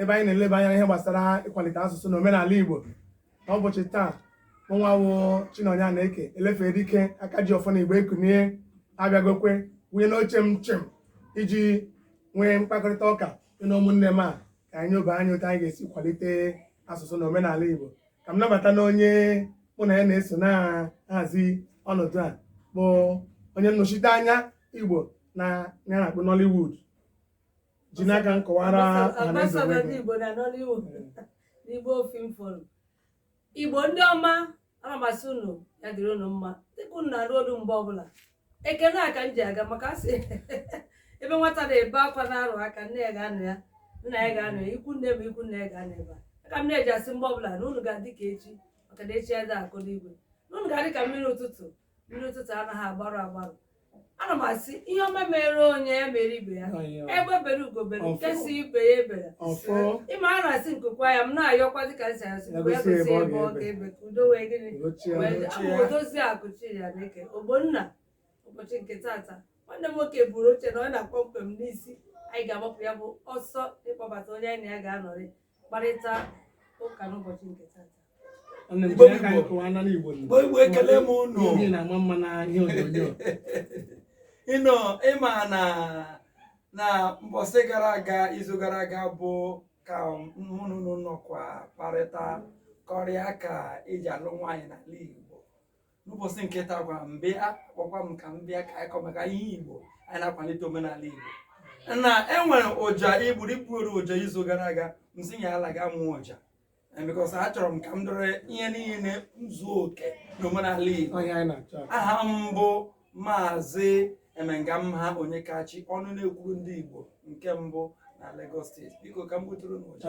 ebe anyị na-eleba anya ihe gbasara ịkwalite asụsụ na omenala Igbo n'ụbọchị taa nwa wụ Chinonye Anaeke elefe dike aka ji ọfọ na Igbo ekunie abịagokwa wụnye n'oche m chim iji nwee mkpakọrịta ụka na ụmụnne m a ka anyị lebe anya otu anyị ga-esi kwalite asụsụ na omenala Igbo ka m nabata na onye mụ na ya na-eso na-ahazi ọnọdụ a bụ onye nnọchite anya Igbo n'ihe a na-akpọ Nollywood jiri aka gị kọwara ọhaneze Ambassador onwe ndị gị. Igbo na Nollywood n'Igbo Film Forum. Igbo ndị ọma ana m asị unu ya dịrị unu mma dịka unu na-anụ olu m mgbe ọbụla ekele a ka m ji aga maka asị ebe nwata na-ebe akwa na-arụ aka nne ya ga-anọ ya nna ya ga-anọ ya ikwu nne ma ikwu nna ya ga-anọ ebe a ka m na-eji asị mgbe ọbụla na unu ga-adị ka echi maka na echi adịghị agwụ agwụ na unu ga-adị ka mmiri ụtụtụ mmiri ụtụtụ anaghị agbarụ agbarụ ana m asị ihe ọma mere onye ya mere ibe ya egbe bere ugo bere Ọfọ. nke sị ibe ya ebela ọfọ ị ma a na-asị nku kwaa ya m na-ayọkwazi ka esi asị mgbe ya Egosi gosi ebe ebe ọ ọ ga-ebe. ga-ebe ka udo wee gịnị ochie wee dị. Abụ m odozi akụ Chinyere Eke Ogbonna ụbọchị nke tata nwanne m nwoke buru oche na ọ na-akpọ mkpem n'isi anyị ga-agbapụ ya bụ ọsọ ịkpọbata onye anyị na ya ga-anọrị mkparịta ụka n'ụbọchị nke tata Nwanne m, Igbo jiri aka Igbo. kọwaa anọ n'Igbo nọ. Igbo Igbo ekele m unu. Ndị na-ama mma na ihe onyonyo unu ma na na mbọsị gara aga izu gara aga bụ ka mụ na unu nọkwa kparịta kọrịa ka eji alụ nwaanyị n'ala Igbo n'ụbọchị nke taakwa a bịa kpọkwa m ka m bịa ka anyị kọ maka ihe igbo anyị na-akwalite omenala igbo na enwere ọja i gburu i gburu ọja izu gara aga m sị ya ala ga mụọ ọja because achọrọ m ka m dọrọ ihe niile zuo oke n'omenala igbo aha m bụ maazị emengamha onyekachi ọnụ na-ekwuru ndị igbo nke mbụ na Lagos steeti biko ka m gbutụrụ unu ọja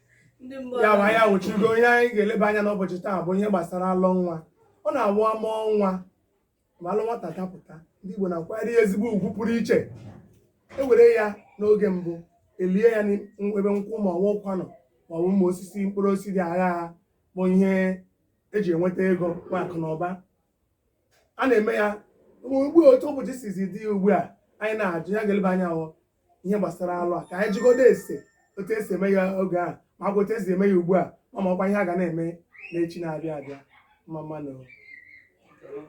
ya bụ anyị awụchigo ihe anyị ga-eleba anya n'ụbọchị taa bụ ihe gbasara alọ nwa ọ na-awụ a mụọ nwa ma alọ nwata dapụta ndị Igbo na-akwanyere ya ezigbo ugwu pụrụ iche e were ya n'oge mbụ lie ya n'ebe nkwụ ma ọ wụkwanụ ma ọ bụ ụmụ osisi mkpụrụ osisi dị agha agha bụ ihe eji enweta ego nwee akụ na ụba a na-eme ya gboo otu ụbọchị sizi dị ugbu a anyị na-ajụ ya ga-eleba anya hụ ihe gbasara alọ a ka anyị jụgodu ase otu esi eme ya oge a ma ọkwa otu esi eme ya ugbu a ma ma ọkwa ihe a ga na-eme n'echi na-abịa abịa mma mma nụ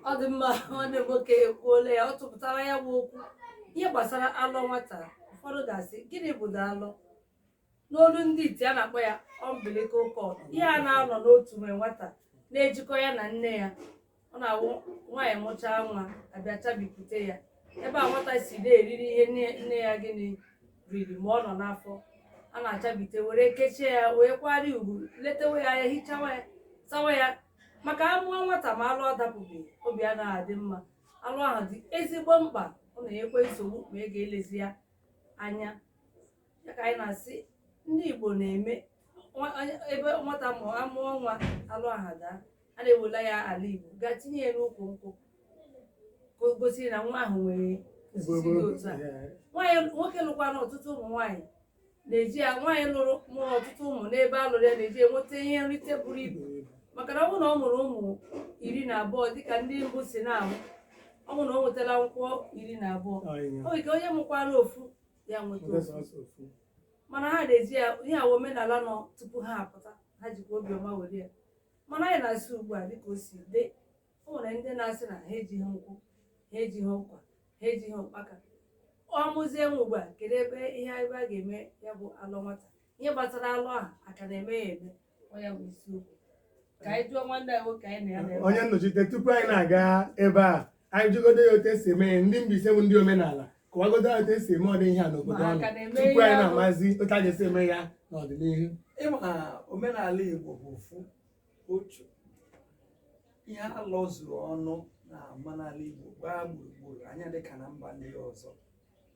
ọ dị mma nwanne m nwoke ekwuola ya ọ tụpụtara ya bụ okwu ihe gbasara alọ nwata ụfọdụ ga-asị gịnị bụ na alọ n'olu ndị iti a na-akpọ ya umbilical cord ihe a na-anọ n'otume nwata na-ejikọ ya na nne ya ọ na-awụ nwaanyị mụchaa nwa a bịa chabipụta ya ebe a nwata si na-eriri ihe nne ya gịnị riri ma ọ nọ n'afọ a na-achabite were kechie ya wee kwari ugwu letewe ya anya hichawa ya sawa ya maka a mụọ nwata ma alụ adapụghị obi anaghị adị mma alụ ahụ dị ezigbo mkpa ọ na-enyekwa nsogbu ma ị ga-elezi ya anya ya ka anyị na-asị ndị Igbo na-eme nwa- onye- ebe nwata mụọ a mụọ nwa alụ ahụ daa a na-ewela ya ala Igbo gaa tinye ya n'ukwu nkwụ ka o gosiri na nwa ahụ nwere osisi dị otu a nwaanyị nwoke lụkwara ọtụtụ ụmụ nwaanyị na-eji ya nwaanyị lụrụ mụrụ ọtụtụ ụmụ n'ebe a lụrụ ya na-eji enweta ihe nrite buru ibu maka na ọ bụrụ na ọ mụrụ ụmụ iri na abụọ dịka ndị mbụ si na-amụ ọ bụrụ na o nwetala nkwụ iri na abụọ o nwere ike onye mụkwara ofu ya nweta naanị ofu sọsọ ofu. mana ha na-eji ya ihe a wụ omenala nọ tupu ha apụta ha jikwa obiọma were ya mana anyị na-asị ugbu a dịka o si dị o nwere ndị na-asị na ha ejighị nkwụ ha ejighị ụkwa ha ejighị ụkpaka ọ mụzie nwa ugbu a kedu ebe ihe ebe a ga-eme ya bụ alụ nwata ihe gbasara alụ ahụ a ka na-eme ya eme onye nnọchite tupu anyị na-aga ebe a anyị jụgodo ya otu esi eme ndị Mbaise bụ ndị omenala kọwagodo ya otu esi eme ụdị ihe a n'obodo unu tupu anyị na-amazi otu a ga-esi eme ya n'ọdịnihu ị ma omenala Igbo bụ ofu otu ihe alọ zuru ọnụ na omenala Igbo gbaa gburugburu anya dịka na mba ndị ọzọ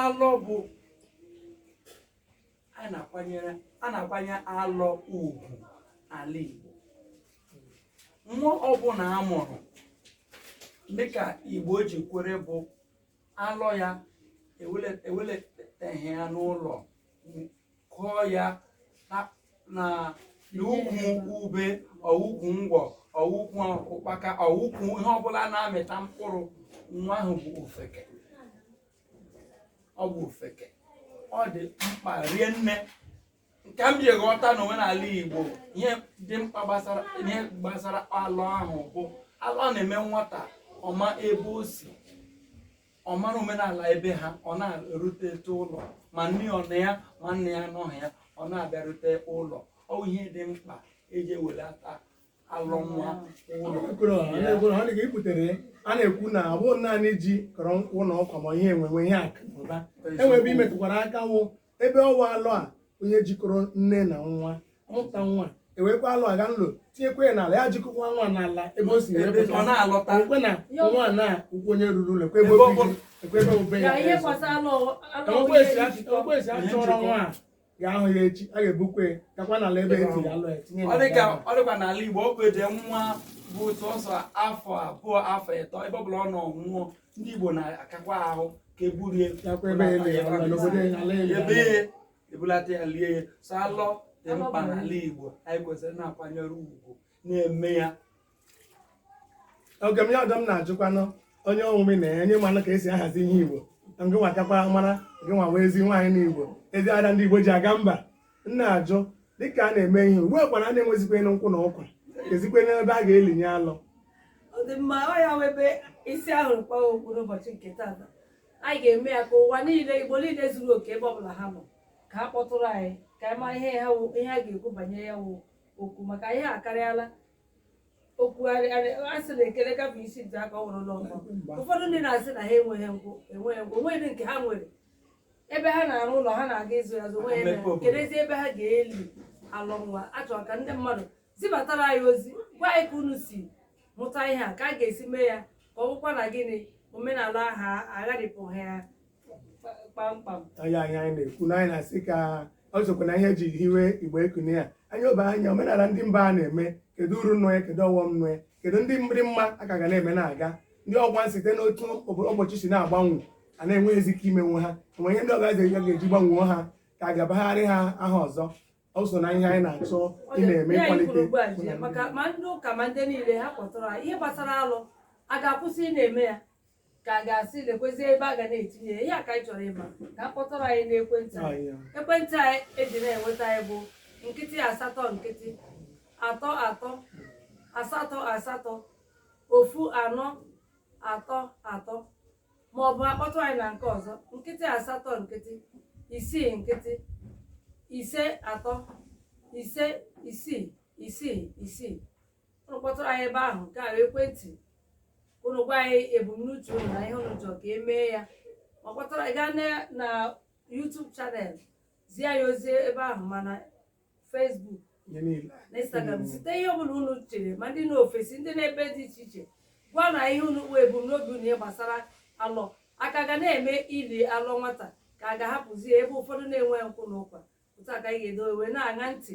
alọ bụ a na-akwanyere a na-akwanye alọ ugwu n'ala Igbo nwa ọbụla a mụrụ dịka Igbo ji kwere bụ alọ ya ewele- eweletaghị ya n'ụlọ kụọ ya na- na na ukwu ube ọ wụ ukwu ngwọ ọ wụ ukwu ụkpaka ọ wụ ukwu ihe ọbụla na-amịta mkpụrụ nwa ahụ bụ ofeke ọ bụ ofeke ọ dị mkpa rie nne nke m ji ghọta na omenala igbo ihe dị mkpa gbasara ihe gbasara alọ ahụ bụ alọ na-eme nwata ọ ma ebe o si ọ mara omenala ebe ha ọ na-erutete ụlọ ma nne ọ nọ ya ma nne ya anọghị ya ọ na-abịarute ụlọ ọ bụ ihe dị mkpa eji ewelata alọ nwa ụlọ a na-ekwu na ọ bụghị naanị ji kọrọ nkwụ na ụkwa ma ihe enwenwe ihe akụ na ụba e nwe ebe ị metụkwara aka wụ ebe ọ wụ alọ a onye jikọrọ nne na nwa mụta nwa ewekwa alọ a gaa n'ụlọ tinyekwa ya n'ala ya jikọkwa nwa n'ala ebe o si ekwe na nwa na ụkwụ onye ruru ụlọ ekwe ebe obe ya ekwe esi achọrọ nwa ya ahụ ya echi a ga-ebukwa ya gakwa n'ala ebe etiri alọ ya tinye ọ dịka ọ dịkwa n'ala Igbo ọ bụde nwa bụ sọsọ afọ abụọ afọ ịtọ ebe ọ bụla ọ nọ nwụọ ndị Igbo na-akakwa ahụ ka eburu ya ebe ebulata ya lie ya so alọ dị mkpa n'ala Igbo anyị kwesịrị na-akwanyere ugwu na-eme ya oge m ya ọdọ m na-ajụkwanụ onye ọnwụme na ya nye mmanụ ka esi ahazi ihe igbo na ngị nwatakwa mara gị nwa wụ ezi nwaanyị na igbo ezi ada ndị igbo ji aga mba m na-ajụ dịka a na-eme ihe ugbu a kwara a na-enwezikwanụ nkwụ na ụkwa kezikwanụ ebe a ga-elinye alọ ọ dị mma ọ ya wụ ebe isi ahụ kpọọ okwu n'ụbọchị nke taata anyị ga-eme ya ka ụwa niile igbo niile zuru oke ebe ọbụla ha nọ ka ha kpọtụrụ anyị ka anyị mara ihe ha wụ- ihe ha ga-ekwu banyere ya wụ okwu maka ihe akarịala okwu a sị na ekele gafee isi nta aka ọ wụrụ n'ọkọ ụfọdụ ndị na-asị na ha enweghị nkwụ enweghị nkwụ onweghị ndị nke ha nwere ebe ha na-arụ ụlọ ha na-aga ịzụ ya azụ onweghị Mmepe obodo. kedezi ebe ha ga-eli alọ nwa a chọrọ ka ndị mmadụ zibatara anyị ozi gwa anyị ka unu si mụta ihe a ka a ga-esi mee ya ka ọ bụkwa na gịnị omenala a agharịpụghị ya kpamkpam onye anyị anyị na-ekwu na anyị na-asị ka ọ sokwa na ihe eji hiwe igbo ekune ya anyị obe anya omenala ndị mba a na-eme kedu uru nọ ya kedu ọghọm nọ ya kedu ndị dị mma a ka ga na-eme na-aga ndị ọ wụ a site n'otu ụbọchị si na-agbanwe a na-enweghịzi ike imenwu ha enwe ihe ndị ọga eze ga-eji gbanwuo ha ka a ga-abagharị ha aha ọzọ ọ so na ihe anyị na-achọ ị na-eme Ihe anyị ịkwalite kwuru ugbu a ji ya, maka ma ndị ụka ma ndị niile ha kpọtụrụ ha ihe gbasara alọ a ga-akwụsị ị na-eme ya ka a ga-asị lekwezi ebe a ga na-etinye ya ihe a ka anyị chọrọ ịma ka a kpọtụrụ anyị n'ekwentị Ah, anyị yeah. ekwentị anyị eji na-enweta anyị bụ nkịtị asatọ nkịtị atọ atọ asatọ asatọ ofu anọ atọ atọ ma ọ bụ akpọtụ anyị na nke ọzọ nkịtị asatọ nkịtị isii nkịtị ise atọ ise isii isii isii ụnụ kpọtụrụ anyị ebe ahụ nke a ekwentị ụnụ gwa anyị ebumnuche ụnụ na ihe ụnụ chọrọ ka emee ya ma kpọtụrụ anyị gaa na YouTube channel zie anyị ozi ebe ahụ ma na Facebook na Instagram zite ihe ọbụla ụnụ chere ma ndị nọ ofesi ndị nọ ebe dị iche iche gwa anyị ihe ụnụ kpụ ebumnobi ụnụ gbasara alọ a ka ga na-eme ili alọ nwata ka a ga-ahapụzi ebe ụfọdụ na-enwe nkwụ na ụkwa otu a ka anyị ga-edowe wee na-aṅa ntị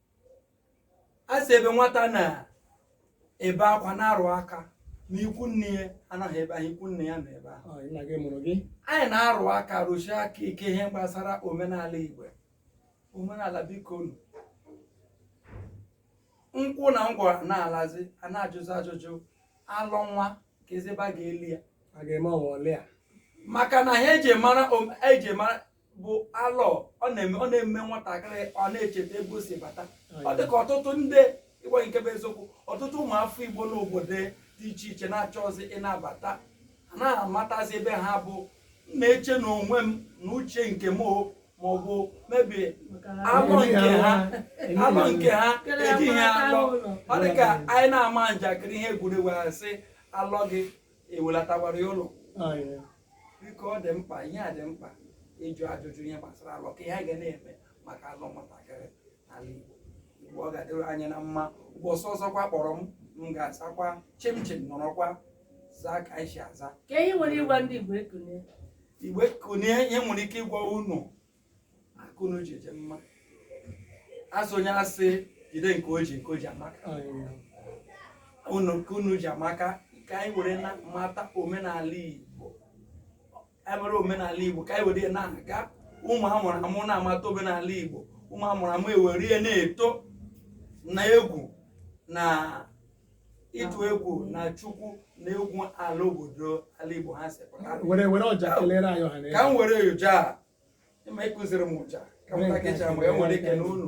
a sị ebe nwata na-ebe akwa na-arụ aka na ikwu nne ya anọghị ebe ahụ ikwu nna ya nọ ebe ahụ Ọ, nna gị mụrụ gị anyị na-arụ aka rụshie aka ike ihe gbasara omenala igbo omenala bikonu nkwụ na ngwuru na-alazi a na-ajụzi ajụjụ alọ nwa kezi ebe a ga-eli ya a ga-eme ọnwa ole a maka na ihe eji mara om- eji mara bụ alọ ọ na-eme ọ na-eme nwatakịrị ọ na-echeta ebe o si bata ọ dị ka ọtụtụ ndị igbo nke bụ eziokwu ọtụtụ ụmụafọ igbo n'obodo dị iche iche na-achọzi ịnabata ha na-amatazi ebe ha bụ m na-eche na onwe m na uche nke m o ma ọ bụ mebi alọ nke ha alọ nke ha ejighị alọ ọ dị ka anyị na-ama njakịrị ihe egwuregwu a sị alọ gị ewelatakwara ya ụlọ biko ọ dị mkpa ihe a dị mkpa ịjụ ajụjụ ihe gbasara alọ ka ihe a ga na-eme maka alọ nwatakịrị n'ala Igbo Igbo ọ ga-adịrị anyị na mma ụbọchị ọzọkwa kpọrọ m m ga-asakwa chimchim nọrọkwa zaa ka anyị si aza ka ihe nwere ịgwa ndị Igbo ekunie Igbo ekunie ihe m nwere ike ịgwa unu aka unu ji dị mma a sị onye a sị jide nke o ji nke o ji amaka unu nke unu ji amaka ka anyị were na-amata omenala igbo anyị mara omenala igbo ka anyị were ya na-aga ụmụ a mụrụ amụ na-amata omenala igbo ụmụ a mụrụ amụ ewere ya na-eto na egwu na ịtụ egwu na chukwu na egwu ala obodo ala igbo ha si pụta were were ọja kelere anyị ọha na ka m were ọja a ịma ịkụziri m ọja ka m were nke takecha a, mgbe e nwere ike na unu